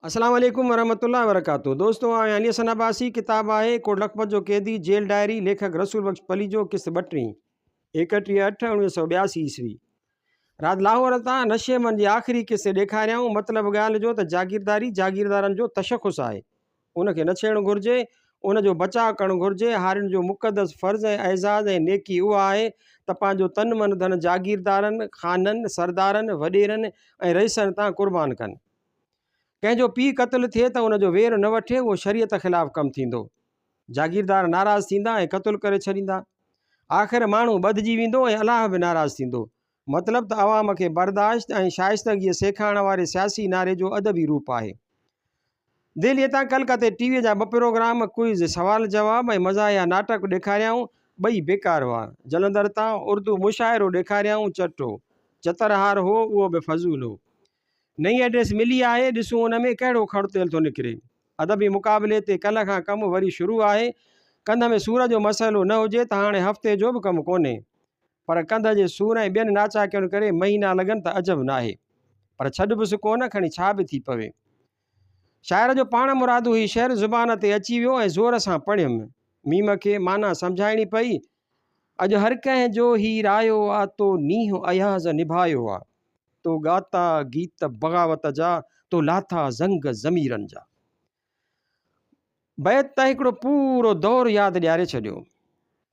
السلام عليڪم ورحمة الله وبرڪاته دوستو آء آهيان علي حسن عباسي ڪتاب آهي ڪوٽ لکپت جو قيدي جيل ڊائري ليکڪ رسول بخش پليجو قسط ٻٽيهين ايڪٽيهه اٺ اوڻيهه سؤ ٻياسي عيسوي رات لاهور تان نشي من جي آخري قصي ڏيکاريائون مطلب ڳالهه جو ته جاگيرداري جاگيردارن جو تشخص آهي ان کي نه ڇيڙڻ گهرجي ان جو بچاء ڪرڻ گهرجي هارين جو مقدس فرض ۽ اعزاز ۽ نيڪي اها آهي ته پنهنجو تن من ڌن جاگيردارن خانن سردارن وڏيرن ۽ رئيسن تان قربان ڪن ڪنهن جو پيء قتل ٿئي ته ان جو وير نه وٺي اهو شريعت خلاف ڪم ٿيندو. جاگيردار ناراض ٿيندا ۽ قتل ڪري ڇڏيندا. آخر ماڻهو ٻڌجي ويندو ۽ الله به ناراض ٿيندو. مطلب ته عوام کي برداشت ۽ شائستگيء سيکارڻ واري سياسي نعري جو ادبي روپ آهي. دهليء تان ڪلڪتي ٽي ويء جا ٻه پروگرام، ڪوئز، سوال جواب، ۽ مزاحيه ناٽڪ ڏيکاريائون، ٻئي بيڪار هئا. جلندر تان اردو مشاعرو ڏيکاريائون، چٽو، چترهار، هو، اهو به فضول هو. نئين ايڊريس ملي آهي ڏسون ان ۾ ڪهڙو کڙ تيل ٿو نڪري. ادبي مقابلي تي ڪلهه کان ڪم وري شروع آهي. ڪنڌ ۾ سور جو مسئلو نه هجي ته هاڻي هفتي جو به ڪم ڪونهي. پر ڪنڌ جي سور ۽ ٻين ناچاڪين ڪري مهينا لڳن ته عجب ناهي. پر ڇڏبس ڪونه کڻي ڇا به ٿي پوي. شاعر جو پاڻمرادو هي شعر زبان تي اچي ويو ۽ زور سان پڙهيم. م کي معنيٰ سمجهائڻي پئي. اڄ هر ڪنهن جو هي رايو آ تو نينهن اياز نڀايو آ. تو ڳاتا گيت بغاوت جا، تو لاٿا زنگ ضميرن جا. بيت ته هڪڙو پورو دور ياد ڏياري ڇڏيو.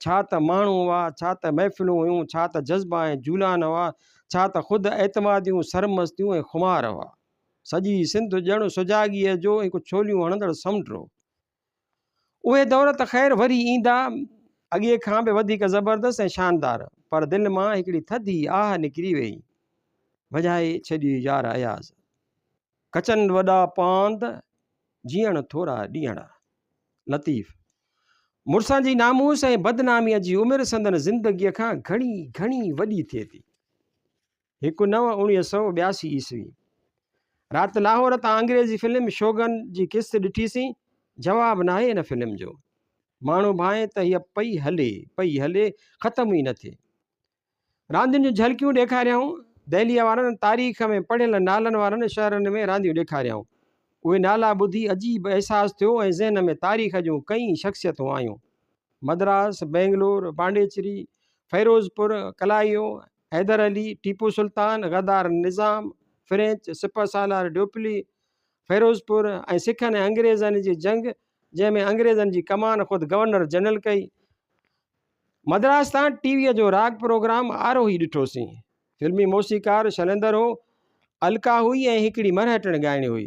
ڇا ته ماڻهو هئا، ڇا ته محفلون هيون، ڇا ته جذبا ۽ جولان هئا، ڇا ته خود اعتماديون، سرمستيون ۽ خمار هئا. سڄي سنڌ ڄڻ سجاڳيء جو هڪ ڇوليون هڻندڙ سمنڊ هو. اهي دور ته خير وري ايندا، اڳي کان به وڌيڪ زبردست ۽ شاندار، پر دل مان هڪڙي ٿڌي آهه نڪري ويئي، وڄائي ڇڏيئي يار اياز! کچن وڏا پاند، جيئڻ ٿورا ڏينهڙا. لطيف. مڙسن جي ناموس ۽ بدناميء جي عمر سندن زندگيء کان گهڻي گهڻي وڏي ٿئي ٿي. هڪ نو اڻيهه سؤ ٻياسي عيسوي. رات لاهور تان انگريزي فلم شوگن جي قسط ڏٺيسين، جواب ناهي ان فلم جو. ماڻهو ڀانئي ته هيء پئي هلي، پئي هلي، ختم ئي نه ٿئي. راندين جون جهلڪيون ڏيکاريائون. دهليء وارن تاريخ ۾ پڙهيل نالن وارن شهرن ۾ رانديون ڏيکاريائون. اهي نالا ٻڌي عجيب احساس ٿيو ۽ ذهن ۾ تاريخ جون ڪئين شخصيتون آيون. مدراس، بئنگلور، پانڊيچري، فيروزپور، ڪلائيو، حيدر علي، ٽيپو سلطان، غدار نظام، فرينچ، سپه سالار ڊيوپلي، فيروزپور ۽ سکن ۽ انگريزن جي جنگ جنهن ۾ انگريزن جي ڪمان خود گورنر جنرل ڪئي. مدراس تان ٽي ويء جو راڳ پروگرام آروهي ڏٺوسين. فلمي موسيقار شنندر هو، الڪا هئي ۽ هڪڙي مرهٽڻ ڳائڻي هئي.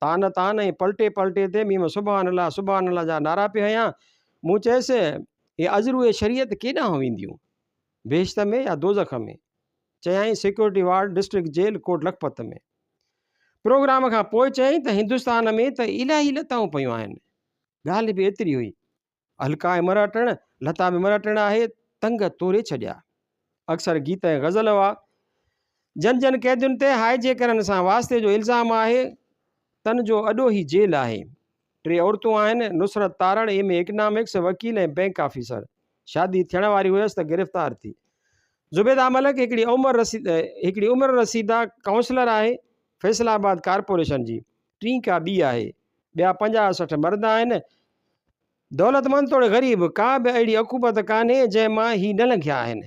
تان تان ۽ پلٽي پلٽي تي ميم سبحان الله سبحان الله جا نعرا پئي هنيا. مون چيس، هي عذروء شريعت ڪيڏانهن وينديون؟ بهشت ۾ يا دوزخ ۾؟ چيائين security ward district jail Kot Lakhpat ۾. Programme کان پوء چيائين ته هندستان ۾ ته الاهي لتائون پيون آهن. ڳالهه به ايتري هئي. هلڪا ۽ مرا ٽڻ، لتا ۾ مرا ٽڻ آهي، تنگ توري ڇڏيا. اڪثر گيت ۽ غزل هئا. جن جن قيدين تي هائجي ڪرڻ سان واسطي جو الزام آهي، تن جو اڏو هي جيل آهي. ٽي عورتون آهن، Nusrat Tarar, M A economics, وڪيل ۽ بئنڪ آفيسر. شادي ٿيڻ واري هيس ته گرفتار ٿي. زبيده ملڪ هڪڙي عمر رسيده ڪائونسلر آهي، فيصل آباد ڪارپوريشن جي. ٽين ڪا ٻي آهي، ٻيا پنجاهه سٺ مرد آهن، دولتمند توڙي غريب، ڪا به اهڙي عقوبت ڪانهي جنهن مان هي نه لنگهيا آهن.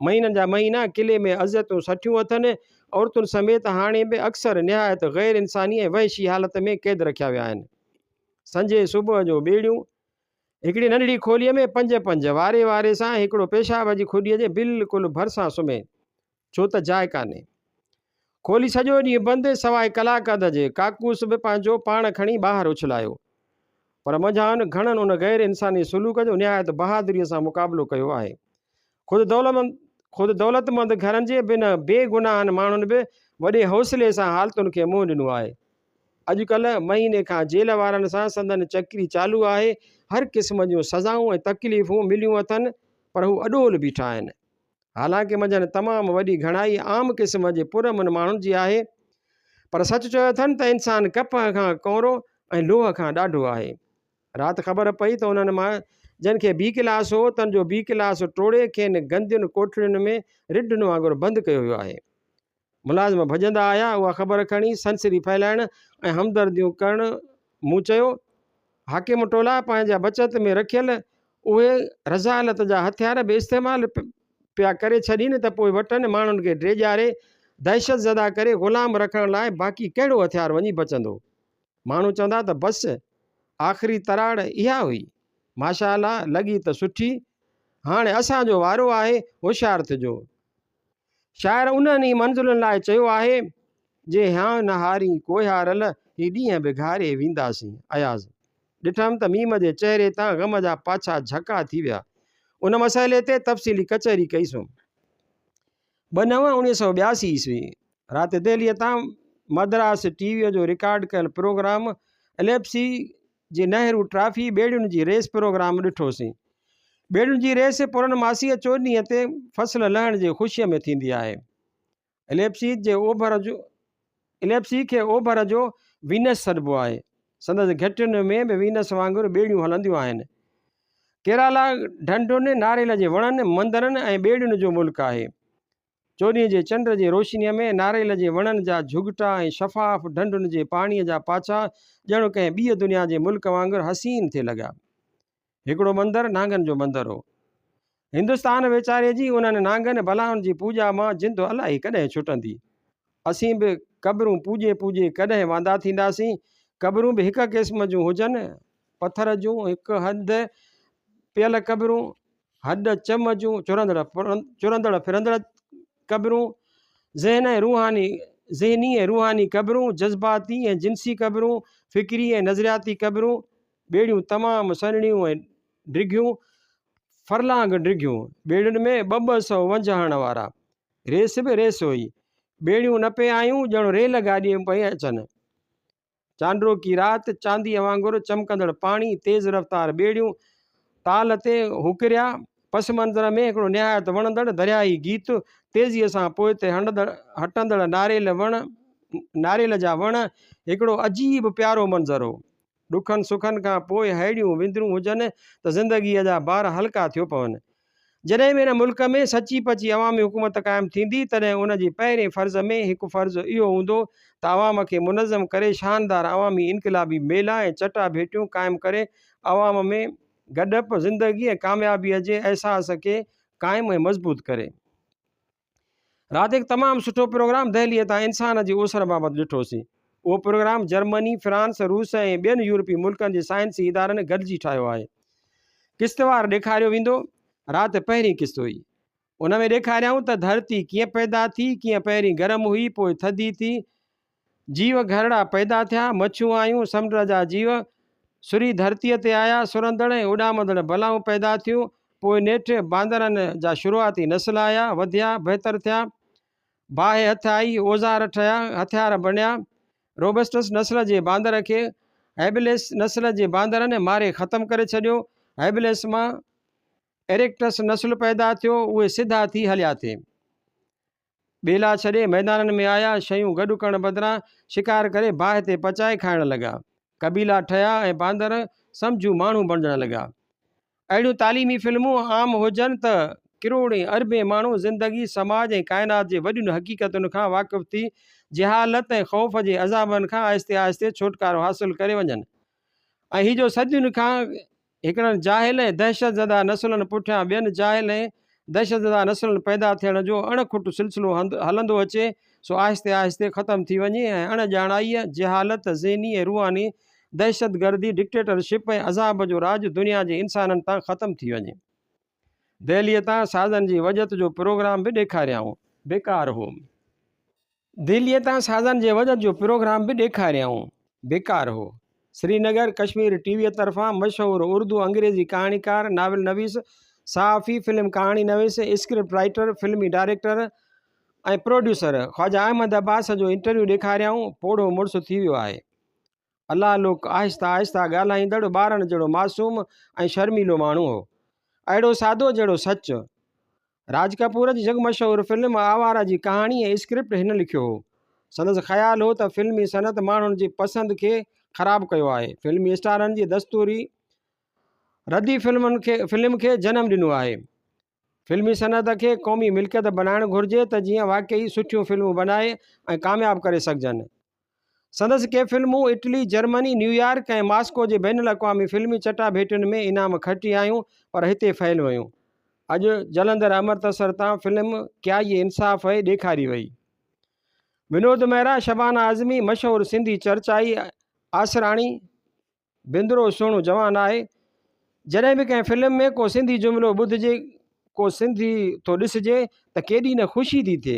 مهينن جا مهينا قلعي ۾ اذيتون سٺيون اٿن، عورتن سميت هاڻي به اڪثر نهايت غير انساني ۽ وحشي حالت ۾ قيد رکيا ويا آهن. سنجهي صبح جو ٻيڙيون هڪڙي ننڍڙي کوليء ۾ پنج پنج، واري واري سان هڪڙو پيشاب جي کڏيء جي بلڪل ڀرسان سمهي، ڇو ته جاء ڪانهي. کولي سڄو ڏينهن بند سواء ڪلاڪ اڌ جي. ڪاڪوس به پنهنجو پاڻ کڻي ٻاهر اڇلايو. پر منجهان گهڻن ان غير انساني سلوڪ جو نهايت بهادريء سان مقابلو ڪيو آهي. خود دولتمند خود دولتمند گهرن جي بنهه بي گناهن ماڻهن به وڏي حوصلي سان حالتن کي منهن ڏنو آهي. اڄڪلهه مهيني کان جيل وارن سان سندن چڪري چالو آهي. هر قسم جون سزائون ۽ تڪليفون مليون اٿن پر هو اڏول بيٺا آهن. حالانڪ منجهن تمام وڏي گهڻائي عام قسم جي پرامن ماڻهن جي آهي، پر سچ چيو اٿن ته انسان ڪپهه کان ڪؤرو ۽ لوهه کان ڏاڍو آهي. رات خبر پئي ته انهن مان جن کي بي ڪلاس هو، تن جو بي ڪلاس ٽوڙي کين گندين ڪوٺڙين ۾ رڍن وانگر بند ڪيو ويو آهي. ملازم ڀڄندا آيا اها خبر کڻي سنسري ڦهلائڻ ۽ همدرديون ڪرڻ مون چيو، حاڪم ٽولا پنهنجا بچت ۾ رکيل اهي رذالت جا هٿيار به استعمال پيا ڪري ڇڏين ته پوء وٽن ماڻهن کي ڊيڄاري دهشت زده ڪري غلام رکڻ لاء باقي ڪهڙو هٿيار وڃي بچندو؟ ماڻهو چوندا ته بس آخري تراڙ اها هئي. ماشاء الله لڳي ته سٺي. هاڻي اسان جو وارو آهي هوشيار ٿجو. شاعر انهن ئي منزلن لاء چيو آهي، جي هيان نه هارين ڪوهيارل، هي ڏينهن به گهاري وينداسين. اياز. ڏٺم ته ميم جي چهري تان غم جا پاڇا جهڪا ٿي ويا. ان مسئلي تي تفصيلي ڪچهري ڪئي سون. ٻه نو انويهه سؤ ٻياسي عيسوي رات دهليء تان مدراس ٽي ويء جو رڪارڊ ڪيل پروگرام اليپسي جي نهرو ٽرافي ٻيڙين جي ريس پروگرام ڏٺوسين. ٻيڙين جي ريس پورنماسيء چوڏهينء تي فصل لهڻ جي خوشيء ۾ ٿيندي آهي. اليپسي جي اوڀر جو اليپسي کي اوڀر جو وينس سڏبو آهي. سندس گهٽين ۾ به وينس وانگر ٻيڙيون هلنديون آهن. ڪيرالا ڍنڍن، ناريل جي وڻن، مندرن ۽ ٻيڙين جو ملڪ آهي. چوڏهين جي چنڊ جي روشنيء ۾ ناريل جي وڻن جا جهڳٽا ۽ شفاف ڍنڍن جي پاڻيء جا پاڇا ڄڻ ڪنهن ٻيء دنيا جي ملڪ وانگر حسين ٿي لڳا. هڪڙو مندر نانگن جو مندر هو. هندستان ويچاري جي انهن نانگن بلائن جي پوڄا مان جند الائي ڪڏهن ڇٽندي. اسين به قبرون پوڄي پوڄي ڪڏهن واندا ٿينداسين. قبرون به هڪ قسم جون هجن، پٿر جون، هڪ هنڌ پيل قبرون، هڏ چم جون چرندڙ چرندڙ ڦرندڙ قبرون، ذهن ۽ روحاني ذهني ۽ روحاني قبرون، جذباتي ۽ جنسي قبرون، فڪري ۽ نظرياتي قبرون، ٻيڙيون تمام سنهڙيون ۽ ڊگهيون، فرلانگ ڊگهيون، ٻيڙين ۾ ٻه ٻه سئو ونجهه هڻڻ وارا، ريس به ريس هئي، ٻيڙيون نه پئي آيون ڄڻ ريل گاڏيء ۾ پئي اچن. چانڊوڪي رات، چانديء وانگر چمڪندڙ پاڻي، تيز رفتار ٻيڙيون، تال تي هوڪريا، پس منظر ۾ هڪڙو نهايت وڻندڙ درياهي گيت، تيزيء سان پوئتي هٽندڙ ناريل وڻ، ناريل جا وڻ، هڪڙو عجيب پيارو منظر هو. ڏکن سکن کان پوء ههڙيون وندرون هجن ته زندگيء جا بار هلڪا ٿيو پون. جڏهن به هن ملڪ ۾ سچي پچي عوامي حڪومت قائم ٿيندي تڏهن ان جي پهرين فرض ۾ هڪ فرض اهو هوندو ته عوام کي منظم ڪري شاندار عوامي انقلابي ميلا ۽ چٽا ڀيٽيون قائم ڪري عوام ۾ گڏپ، زندگي ۽ ڪاميابيء جي احساس کي قائم ۽ مضبوط ڪري. راديڪ تمام سٺو پروگرام دهلي تان انسان جي اوسر بابت ڏٺوسين اهو پروگرام جرمني فرانس روس ۽ ٻين يورپي ملڪن جي سائنسي ادارن گڏجي ٺاهيو آهي قسطوار ڏيکاريو ويندو رات پهرين قسط هئي ان ۾ ڏيکاريائون ته ڌرتي ڪيئن پيدا ٿي ڪيئن پهرين گرم هئي پوء ٿڌي ٿي جيو گهرڙا پيدا ٿيا، مڇون آيون، سمنڊ جا جيو سري ڌرتيء تي آيا، سرندڙ ۽ اڏامندڙ بلائون پيدا ٿيون، پوء نيٺ باندرن جا شروعاتي نسل آيا، وڌيا، بهتر ٿيا، باهه هٿ آئي، اوزار ٺهيا، هٿيار بڻيا، روبسٽس نسل جي باندر کي هيبليس نسل جي باندرن ماري ختم ڪري ڇڏيو، هيبليس مان ايريڪٽس نسل پيدا ٿيو، اهي سڌا ٿي هليا ٿي. ٻيلا ڇڏي ميدانن ۾ آيا، شيون گڏ ڪرڻ بدران شڪار ڪري باهه تي پچائي کائڻ لڳا. قبيلا ٺهيا ۽ باندر سمجهو ماڻهو بڻجڻ لڳا. اهڙيون تعليمي فلمون عام هجن ته ڪروڙين اربين ماڻهو زندگي، سماج ۽ ڪائنات جي وڏين حقيقتن کان واقف ٿي جهالت ۽ خوف جي عذابن کان آهستي آهستي ڇوٽڪارو حاصل ڪري وڃن. اهي جو صدين کان هڪڙن جاهل ۽ دهشتزده نسلن پٺيان ٻين جاهل ۽ دهشتزده نسلن پيدا ٿيڻ جو اڻ کٽ سلسلو هلندو اچي سو آهستي آهستي ختم ٿي وڃي ۽ اڻ ڄاڻائيء، جهالت، ذهني ۽ روحاني دهشتگردي، ڊڪٽيٽرشپ ۽ عذاب جو راڄ دنيا جي انسانن تان ختم ٿي وڃي. دهليء تان سازن جي وڄت جو پروگرام به ڏيکاريائون. بيڪار هو. دهليء تان سازن جي وڄت جو پروگرام به ڏيکاريائون. بيڪار هو. سرينگر، ڪشمير ٽي ويء طرفان مشهور اردو انگريزي ڪهاڻيڪار، ناول نويس، صحافي، فلم ڪهاڻي نويس، اسڪرپٽ رائيٽر، فلمي ڊائريڪٽر ۽ پروڊيوسر خواجه احمد عباس جو انٽرويو ڏيکاريائون. پوڙهو مڙس ٿي ويو آهي. الله لوڪ آهسته آهسته ڳالهائيندڙ ٻارڻ جهڙو معصوم ۽ شرميلو ماڻهو هو. اهڙو سادو جهڙو سچ. راج ڪپور جي جڳ مشهور فلم آواره جي ڪهاڻي ۽ اسڪرپٽ هن لکيو هو. سندس خيال هو ته فلمي صنعت ماڻهن جي پسند کي خراب ڪيو آهي. فلمي اسٽارن جي دستوري ردي فلمن کي فلم کي جنم ڏنو آهي. فلمي صنعت کي قومي ملڪيت بنائڻ گهرجي ته جيئن واقعي سٺيون فلمون بنائي ۽ ڪامياب ڪري سگهجن. سندس ڪي فلمون اٽلي، جرمني، نيويارڪ ۽ ماسڪو جي بين الاقوامي فلمي چٽاڀيٽين ۾ انعام کٽي آيون پر هتي فيل ويون. اڄ جلندر امرتسر تان فلم ڪيائي انصاف هي ڏيکاري وئي. ونود مهرا، شبانه اعظمي، مشهور سنڌي چرچائي آسراڻي، بندرو سهڻو جوان آهي. جڏهن به ڪنهن فلم ۾ ڪو سنڌي جملو ٻڌجي، ڪو سنڌي ٿو ڏسجي ته ڪيڏي نه خوشي ٿي ٿئي.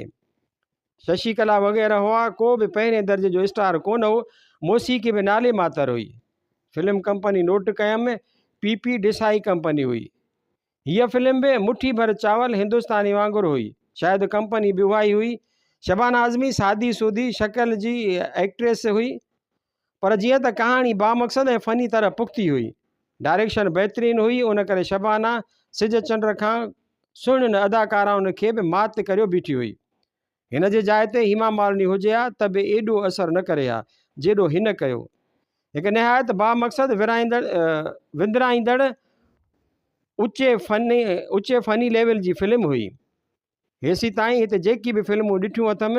ششي ڪلا وغيره هئا، ڪو به پهرين درجي جو اسٽار ڪونه هو، موسيقي به نالي ماتر هئي. فلم ڪمپني نوٽ ڪيم، پي پي ڊيسائي ڪمپني هئي. هيء فلم به مٺي ڀر چاول هندستاني وانگر هئي. شايد ڪمپني به اهائي هئي. شبانه اعظمي سادي سودي شڪل جي ايڪٽريس هئي. پر جيئن ته ڪهاڻي بامقصد ۽ فني طرح پختي هئي. ڊائريڪشن بهترين هئي ان ڪري شبانه سج چنڊ کان سهڻين اداڪارائن کي به مات ڪريو بيٺي هئي. هن جي جاء تي هيما مالني هجي ها ته به ايڏو اثر نه ڪري ها جيڏو هن ڪيو. هڪ نهايت بامقصد ورهائيندڙ وندرائيندڙ اچي فني اچي فني ليول جي فلم هئي. هيسين تائين هت جيڪي به فلمون ڏٺيون اٿم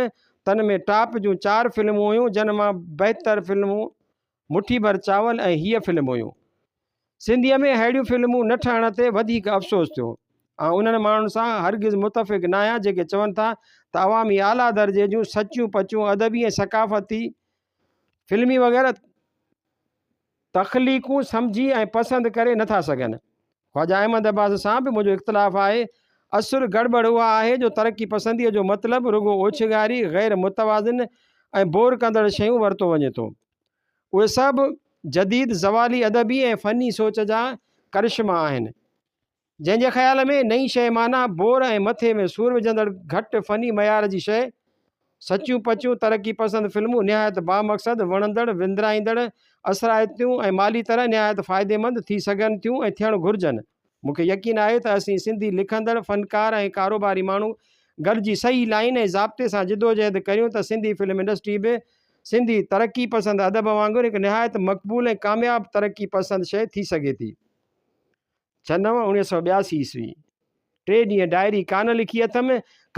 تن ۾ ٽاپ جون چار فلمون هيون جن مان بهتر فلمون مٺي ڀر چاول ۽ هيء فلم هيون. سنڌيء ۾ ههڙيون فلمون نه ٺهڻ تي وڌيڪ افسوس ٿيو. آئون انهن ماڻهن سان هرگز متفق ناهيان جيڪي چون ٿا ته عوامي اعليٰ درجي جون سچيون پچيون ادبي ۽ ثقافتي فلمي وغيره تخليقون سمجهي ۽ پسند ڪري نه ٿا سگهن. خواجه احمد عباس سان به منهنجو اختلاف آهي. اصل گڙٻڙ اها آهي جو ترقي پسنديء جو مطلب رڳو اوڇنگاري، غير متوازن ۽ بور ڪندڙ شيون ورتو وڃي ٿو. اهي سڀ جديد زوالي ادبي ۽ فني سوچ جا ڪرشما آهن. جنهن جي خيال ۾ نئين شيء معنيٰ بور ۽ مٿي ۾ سور وجهندڙ گهٽ فني معيار جي شيء. سچيون پچيون ترقي پسند فلمون نهايت بامقصد، وڻندڙ، وندرائيندڙ، اثرائتيون ۽ مالي طرح نهايت فائديمند ٿي سگهن ٿيون ۽ ٿيڻ گهرجن. مون کي يقين آهي ته اسين سنڌي لکندڙ، فنڪار ۽ ڪاروباري ماڻهو گڏجي صحيح لائين ۽ ضابطي سان جدوجهد ڪريون ته سنڌي فلم انڊسٽري به سنڌي ترقي پسند ادب وانگر هڪ نهايت مقبول ۽ ڪامياب ترقي پسند شيء ٿي سگهي ٿي. ڇهه نو اڻيهه سؤ ٻياسي عيسوي ٽي ڏينهن ڊائري ڪانه لکي اٿم،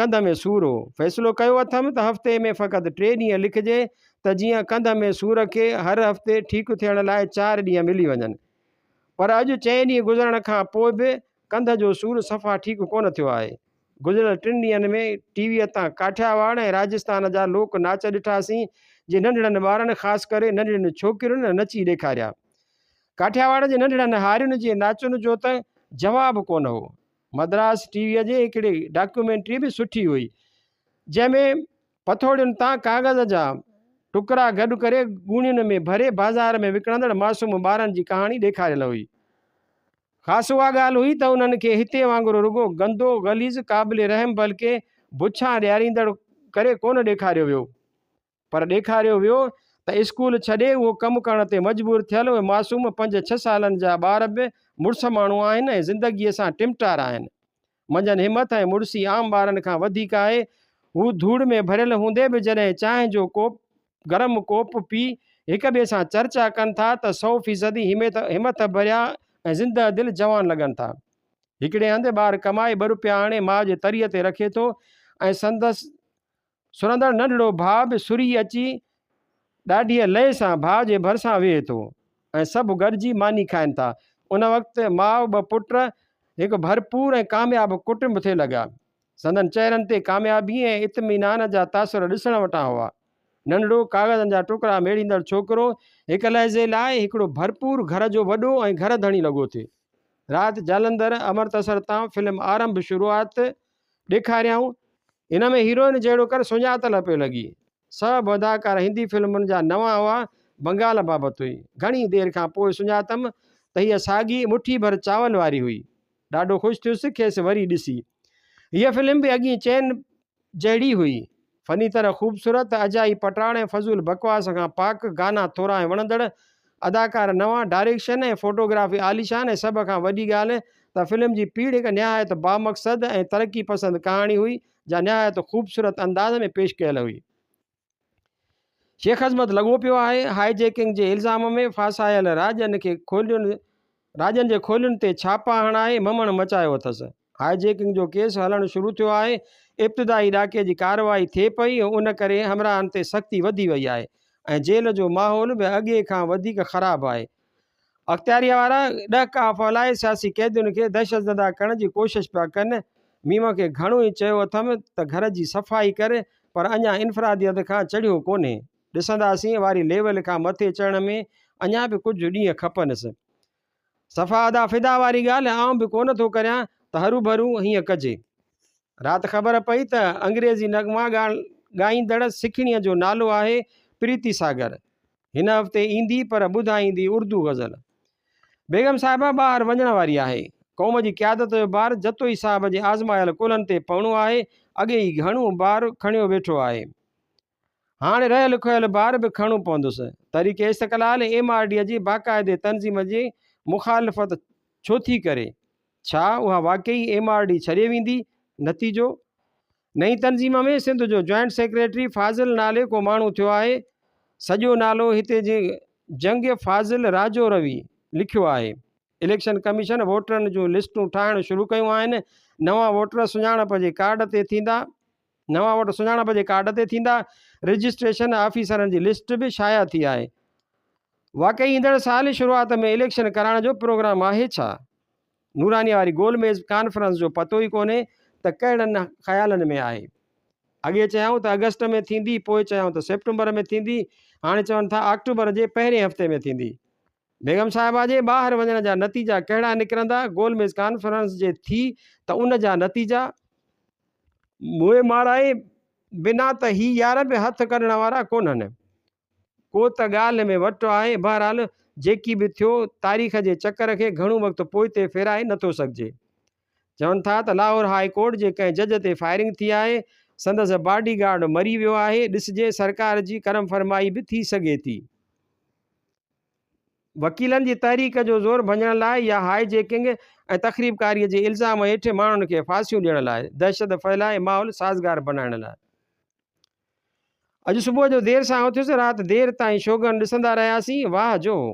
ڪنڌ ۾ سور هو، فيصلو ڪيو اٿم ته هفتي ۾ فقط ٽي ڏينهن لکجي ته جيئن ڪنڌ ۾ سور کي هر هفتي ٺيڪ ٿيڻ لاء چار ڏينهن ملي وڃن. پر اڄ چئين ڏينهن گذرڻ کان پوء به ڪنڌ جو سور صفا ٺيڪ ڪونه ٿيو آهي. گذريل ٽن ڏينهن ۾ ٽي ويء تان ڪاٺياواڙ ۽ راجسٿان جا لوڪ ناچ ڏٺاسين، جي ننڍڙن ٻارن خاص ڪري ننڍڙين ڇوڪرين نچي ڏيکاريا. ڪاٺياواڙ جي ننڍڙن هارين جي ناچن جو ته جواب ڪونه هو. مدراس ٽي ويء جي هڪڙي ڊاڪيومينٽري به سٺي هئي، جنهن ۾ پٿوڙين تان ڪاغذ جا ٽڪرا گڏ ڪري ڳوڻين ۾ ڀري بازار ۾ وڪڻندڙ معصوم ٻارن جي ڪهاڻي ڏيکاريل هئي. خاص اها ڳالهه هئي ته انهن کي هتي وانگر رڳو گندو، غليظ، قابل رحم بلڪه بڇان ڏياريندڙ ڪري ڪونه ڏيکاريو ويو پر ڏيکاريو ويو ته اسڪول ڇڏي اهو ڪم ڪرڻ تي مجبور ٿيل اهي معصوم پنج ڇهه سالن جا ٻار به مڙس ماڻهو آهن ۽ زندگيء سان ٽمٽار آهن منجهن همٿ ۽ مڙسي عام ٻارن کان وڌيڪ آهي. هو ڌوڙ ۾ ڀريل هوندي به جڏهن چانهه جو ڪوپ، گرم ڪوپ، پي هڪ ٻئي سان چرچا ڪن ٿا ته سؤ فيصدي همٿ ڀريا ۽ زنده دل جوان لڳن ٿا. هڪڙي هنڌ ٻار ڪمائي ٻه روپيا آڻي ماء جي تريء تي رکي ٿو ۽ سندس سرندڙ ننڍڙو ڀاء به سري اچي ڏاڍيء لئي سان ڀاء جي ڀرسان ويهي ٿو ۽ سڀ گڏجي ماني کائن ٿا. ان وقت ماء ٻه پٽ هڪ ڀرپور ۽ ڪامياب ڪٽنب ٿي لڳا. سندن چهرن تي ڪاميابيء ۽ اطمينان جا تاثر ڏسڻ وٽان هئا. ننڍڙو ڪاغذن جا ٽڪرا ميڙيندڙ ڇوڪرو هڪ لحظي لاء هڪڙو ڀرپور گهر جو وڏو ۽ گهر ڌڻي لڳو ٿي. رات جالندر امرتسر تان فلم آرنڀ شروعات ڏيکاريائون ان ۾ هيروئن جهڙو ڪر سڃاتل پيو لڳي. سڀ اداڪار هندي فلمن جا نوان هئا، بنگال بابت هئي. گهڻي دير کان پوء سڃاتم ته هيء ساڳي مٺي ڀر چانورن واري هئي. ڏاڍو خوش ٿيس کيس وري ڏسي. هيء فلم به اڳئين چين جهڙي هئي. فني طرح خوبصورت، اجائي پٽاڙ ۽ فضول بڪواس کان پاڪ، گانا ٿورا ۽ وڻندڙ، اداڪار نوان، ڊائريڪشن ۽ فوٽوگرافي عاليشان ۽ سڀ کان وڏي ڳالهه ته فلم جي پيڙهه هڪ نهايت بامقصد ۽ ترقي پسند ڪهاڻي هئي جا نهايت خوبصورت انداز ۾ پيش ڪيل هئي. شيخعظمت لڳو پيو آهي هاء جيڪنگ جي الزام ۾ ڦاسايل راڄن کي کولين راڄن جي کولين تي ڇاپا هڻائي ممڻ مچايو اٿس. هاء جيڪنگ جو ڪيس هلڻ شروع ٿيو آهي، ابتدائي ڏاڪي جي ڪارروائي ٿئي پئي، ان ڪري همراهن تي سختي وڌي وئي آهي ۽ جيل جو ماحول به اڳي کان وڌيڪ خراب آهي، اختياريه وارا ڏهڪاء ڦهلائي سياسي قيدين کي دهشتزده ڪرڻ جي ڪوشش پيا ڪن، ميم کي گهڻو ئي چيو اٿم ته گهر جي صفائي ڪر پر اڃا انفرادي حد کان چڙهيو ڪونهي، ڏسنداسين واري ليول کان مٿي چڙهڻ ۾ اڃا به ڪجهه ڏينهن کپنس. صفا ادا فدا واري ڳالهه آئون به ڪونه ٿو ڪريان ته هروڀرو هيئن ڪجي. رات خبر پئي ته انگريزي نغما ڳائيندڙ سکڻيء جو نالو آهي پريتي ساگر. هن هفتي ايندي پر ٻڌائيندي اردو غزل. بيگم صاحبه ٻاهر وڃڻ واري آهي. قوم جي قيادت جو بار جتوئي صاحب جي آزمايل ڪلهن تي پوڻو آهي، اڳي ئي گهڻو بار کڻيو ويٺو آهي. هاڻي رهيل کوهيل بار به کڻڻو پوندس. Tehreek Istiqlal M R D جي باقاعدي تنظيم جي مخالفت ڇو ٿي ڪري؟ ڇا اها واقعي ايم آر ڊي ڇڏي ويندي؟ نتيجو؟ نئين تنظيم ۾ سنڌ جو جوائنٽ سيڪريٽري فاضل نالي ڪو ماڻهو ٿيو آهي. سڄو نالو هتي جي جنگ فاضل راجو روي لکيو آهي. اليڪشن ڪميشن ووٽرن جون لسٽون ٺاهڻ شروع ڪيون آهن. نوان ووٽر سڃاڻپ جي ڪارڊ تي ٿيندا. نوان ووٽ سڃاڻپ جي ڪارڊ تي ٿيندا، رجسٽريشن آفيسرن جي لسٽ به شايع ٿي آهي، واقعي ايندڙ سال ئي شروعات ۾ اليڪشن ڪرائڻ جو پروگرام آهي ڇا؟ نورانيء واري گول ميز ڪانفرنس جو پتو ئي ڪونهي ته ڪهڙن خيالن ۾ آهي، اڳي چيائون ته آگسٽ ۾ ٿيندي، پوء چيائون ته سيپٽمبر ۾ ٿيندي، هاڻي چون ٿا آڪٽوبر جي پهرين هفتي ۾ ٿيندي. بيگم صاحبه جي ٻاهر وڃڻ جا نتيجا ڪهڙا نڪرندا؟ گول ميز ڪانفرنس جي ٿي ته ان جا نتيجا؟ موئي مارائي بنا ته هي يار به هٿ ڪڍڻ وارا ڪونهن. ڪو ته ڳالهه ۾ وٽ آهي. بهرحال جيڪي به ٿيو، تاريخ جي چڪر کي گهڻو وقت پوئتي ڦيرائي نه ٿو سگهجي. چون ٿا ته لاهور هاء ڪورٽ جي ڪنهن جج تي فائرنگ ٿي آهي، سندس باڊي گارڊ مري ويو آهي، ڏسجي سرڪار جي ڪرم فرمائي به ٿي سگهي ٿي. وڪيلن جي تحريڪ جو زور ڀڃڻ لاء يا هاء جيڪنگ ۽ تخريبڪاري جي الزام هيٺ ماڻهن کي ڦاسيون ڏيڻ لاء دهشت ڦهلائي ماحول سازگار بنائڻ لاء. اڄ صبح جو دير سان اٿيس رات دير تائين شوگن ڏسندا رهياسين واهه جو هو.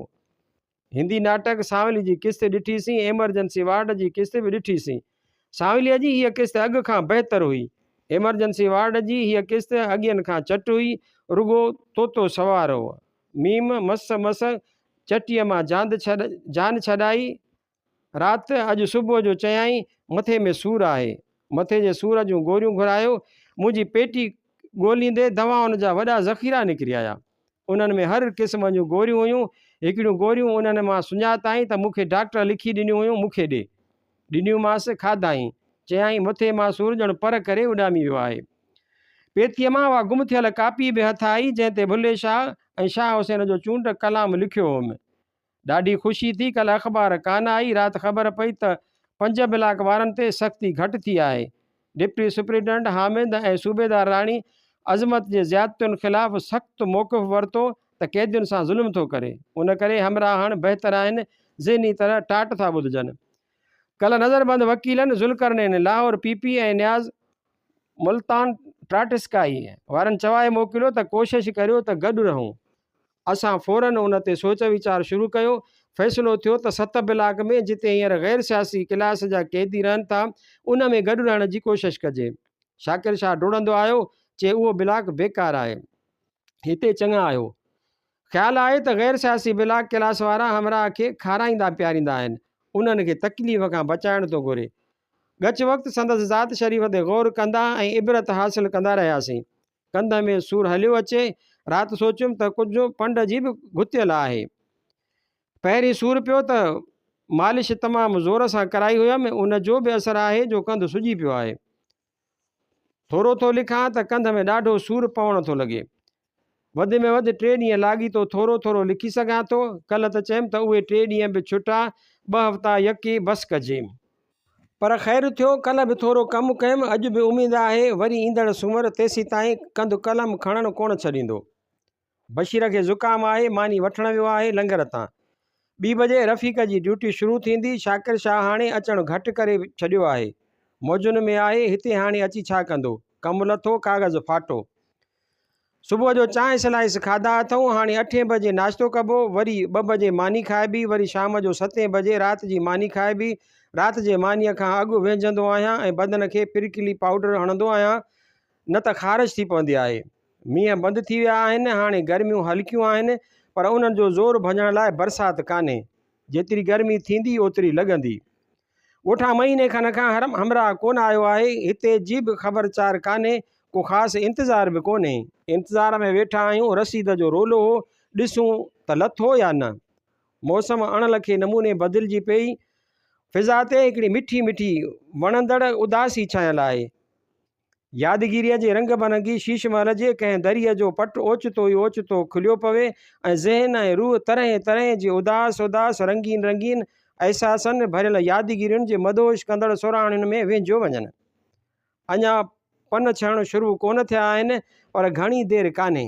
هندي ناٽڪ سانولي جي قسط ڏٺي سين ايمرجنسي وارڊ جي قسط به ڏٺي سين. سانولي جي هيء قسط اڳ کان بهتر هئي. ايمرجنسي وارڊ جي هيء قسط اڳين کان چٽ هئي رڳو طوطو سوار هو. م مس مس چٽيء مان جاند ڇڏ جان ڇڏائي رات اڄ صبح جو چيائين مٿي ۾ سور آهي مٿي جي سور جون گوريون گهرايو منهنجي پيٽي ڳوليندي دوائن جا وڏا ذخيرا نڪري آيا انهن ۾ هر قسم جون گوريون هيون هڪڙيون گوريون انهن مان سڃاتائين ته مون کي ڊاڪٽر لکي ڏنيون هيون مون کي ڏي ڏنيومانس، کاڌائين. چيائين، مٿي مان سور ڄڻ پر ڪري اڏامي ويو آهي. پيتيء مان اها گم ٿيل ڪاپي به هٿ آئي، جنهن تي ڀلي شاهه ۽ شاهه حسين جو چونڊ ڪلام لکيو هوم. ڏاڍي خوشي ٿي. ڪلهه اخبار ڪانه آئي. رات خبر پئي ته پنج بلاڪ وارن تي سختي گهٽ ٿي آهي. ڊپٽي سپرنٽنڊنٽ حامد ۽ صوبيدار راڻي عظمت جي زيادتين خلاف سخت موقف ورتو ته قيدين سان ظلم ٿو ڪري ان ڪري همراهڻ بهتر آهن ذهني طرح ٽاٽ ٿا ٻڌجن ڪلهه نظربند وڪيلن ذوالقرنين لاهور پي پي ۽ نياز ملتان ٽاٽسڪائي وارن چوائي موڪليو ته ڪوشش ڪريو ته گڏ رهون اسان فوراً ان تي سوچ ويچار شروع ڪيو. فيصلو ٿيو ته ست بلاڪ ۾ جتي هينئر غير سياسي ڪلاس جا قيدي رهن ٿا، ان ۾ گڏ رهڻ جي ڪوشش ڪجي. شاڪر شاهه ڊوڙندو آيو، چي اهو بلاڪ بيڪار آهي. هتي چڱا آهيو. خيال آهي ته غير سياسي بلاڪ ڪلاس وارا همراهه کي کارائيندا پياريندا آهن. انهن کي تڪليف کان بچائڻ ٿو گهري. ڳچ وقت سندس ذات شريف تي غور ڪندا ۽ عبرت حاصل ڪندا رهياسين. ڪنڌ ۾ سور هليو اچي، رات سوچيم ته ڪجهه پنڊ جي به گهتيل آهي. پهرين سور پيو ته مالش تمام زور سان ڪرائي هيم، ان جو به اثر آهي جو ڪنڌ سجي پيو آهي. ٿورو ٿو لکان ته ڪنڌ ۾ ڏاڍو سور پوڻ ٿو لڳي. وڌ ۾ وڌ ٽي ڏينهن لاڳيتو ٿورو ٿورو لکي سگهان ٿو، ڪلهه ته چيم ته اهي ٽي ڏينهن به ڇٽا، ٻه هفتا يڪي بس ڪجي. پر خير ٿيو ڪلهه به ٿورو ڪم ڪيم، اڄ به اميد آهي وري ايندڙ سومر تيسيتائين ڪنڌ قلم کڻڻ ڪونه ڇڏيندو. بشير کي زڪام آهي، ماني وٺڻ ويو آهي لنگر تان. ٻي بجي رفيق جي ڊيوٽي شروع ٿيندي، شاڪر شاهه هاڻي اچڻ گهٽ ڪري ڇڏيو آهي. موجن ۾ آهي، هتي هاڻي اچي ڇا ڪندو. ڪم لٿو، ڪاغذ ڦاٽو. صبح جو چانهه سلائيس کاڌا اٿئون، هاڻي اٺين بجي ناشتو ڪبو، وري ٻه بجي ماني کائبي، وري شام جو ستين بجي رات جي ماني کائبي، رات جي مانيء کان اڳ ويهجندو آهيان ۽ بدن کي پرڪلي پائوڊر هڻندو آهيان نه ته خارش ٿي پوندي آهي. مينهن بند ٿي ويا آهن، هاڻي گرميون هلڪيون آهن، پر انهن جو زور ڀڄڻ لاء برسات ڪانهي. جيتري گرمي ٿيندي اوتري لڳندي. ڳوٺان مهيني کن کان حرم همراهه ڪونه آيو آهي، هتي جي به خبر چار ڪانهي، ڪو خاص انتظار به ڪونهي. انتظار ۾ ويٺا آهيون، رسيد جو رولو هو، ڏسون ته لٿو يا نه. موسم اڻ لکي نموني بدلجي پئي، فضا تي هڪڙي مٺي مٺي وڻندڙ اداسي ڇانيل آهي. يادگيريء جي رنگ برنگي شيش محل جي ڪنهن دريء جو پٽ اوچتو ئي اوچتو کليو پوي ۽ ذهن ۽ روح طرحين طرحين جي اداس اداس رنگين رنگين احساسن ڀريل يادگيرين جي مدهوش ڪندڙ سرهاڻين ۾ وينهجيو وڃن. اڃا پن ڇهڻ شروع ڪونه ٿيا آهن، پر گهڻي دير ڪانهي.